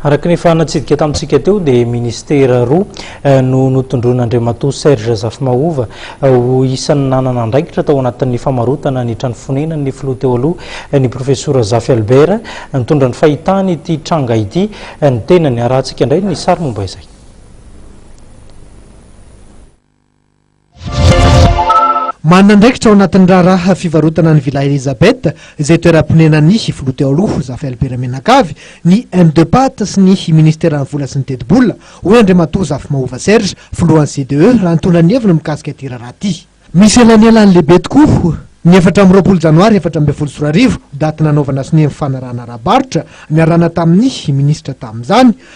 Araka ny efa natsidika tamintsika teo dia ministera roa no notondroin'Andriamatoa Serge Zafimahova ho isan'ny nanana andraikitra tao anatin'ny famarotana ny trano fonenan'ny filoha teo aloha ny profesora Zafy Albert. Nitondra ny fahitany ity tranga ity ny tenany. Arahantsika indray ny sary momba izay. Manana andraikitra ao anatin'ny raharaha fivarotana an'i Villa Elisabeth, izay toeram-ponenan'ny filoha teo aloha, Zafel Beramenakavy, ny Mdepat sy ny minisiteran'ny vola sy ny tetibola, hoy Andriamatoa Zafy Mahova Serge, filohan'ny CDE, raha nitondra ny heviny mikasika ity raharaha ity. Misy elanelany lehibe tokoa ny efatra amby roapolo janoary efatra ambin'ny folo sy roa arivo, daty nanaovana sonia ny fanarahana ara-barotra, niarahana tamin'ny minisitra tamin'izany,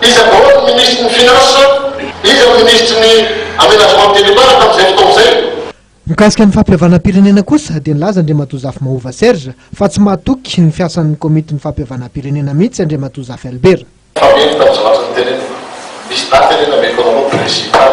Iza daholo ny minisitry ny Finances? Iza ny minisitry ny Aménagement territoire tamin'izay fotoana izay? Mikasika ny fampihavanam-pirenena kosa dia nilaza Andriamatoa Zafy Mahova Serge fa tsy mahatoky ny fiasan'ny Komitin'ny fampihavanam-pirenena mihitsy Andriamatoa Zafy Albert. Fa mino tamin'ny zavatra notenenina. Misy daty anie nameiko anareo principal.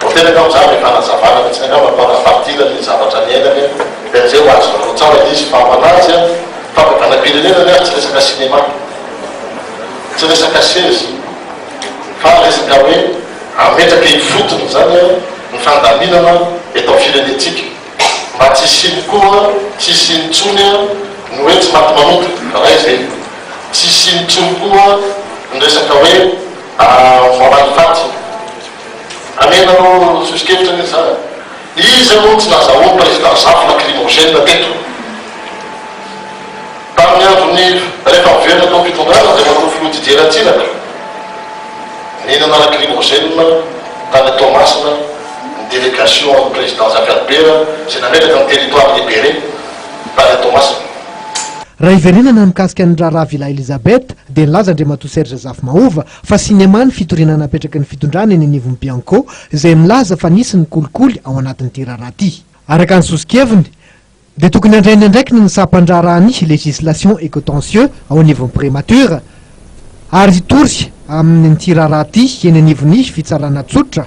Voateraka amin'izany ny fanazavana vitsy ny angamba mpanao fadiana ny zavatra niainany dia amin'izay ho azo nanaontsahina izy fa manaja fandavanam-pirenena ny azy tsy resaka cinéma tsy resaka sezy fa resaka hoe ametraka eny fotony izany ny fandaminana eto amin'ny firenentsika mba tsy hisiany koa tsy hisiany intsony ny hoe tsy maty manota raha izay tsy hisiany intsony koa ny resaka hoe Voaray faty. Amena ro soso-kevitra ny zany. Iza moa tsy nazahoan'i Président Zafy lacrymogène teto? Tamin'ny andron'ny rehefa miverina tao am-pitondrana dia matoa filoha Didier Ratsiraka nihinana lacrymogène tany Toamasina ny délégation an'i Président Zafy Albert izay nametraka ny territoire libéré tany Toamasina. Raha hiverenana mikasika ny raharaha Villa Elisabeth, dia nilaza Andriamatoa Serge Zafimahova fa sinema ny fitoriana napetraky ny fitondrana eny anivon'ny Bianco izay milaza fa nisy ny kolikoly ao anatin'ity raharaha ity. Araka ny sosokeviny, dia tokony handray ny andraikiny ny sampandraharaha ny Législation et Contentieux ao anivon'ny Primature ary hitory amin'ity raharaha ity eny anivon'ny Fitsarana Tsotra,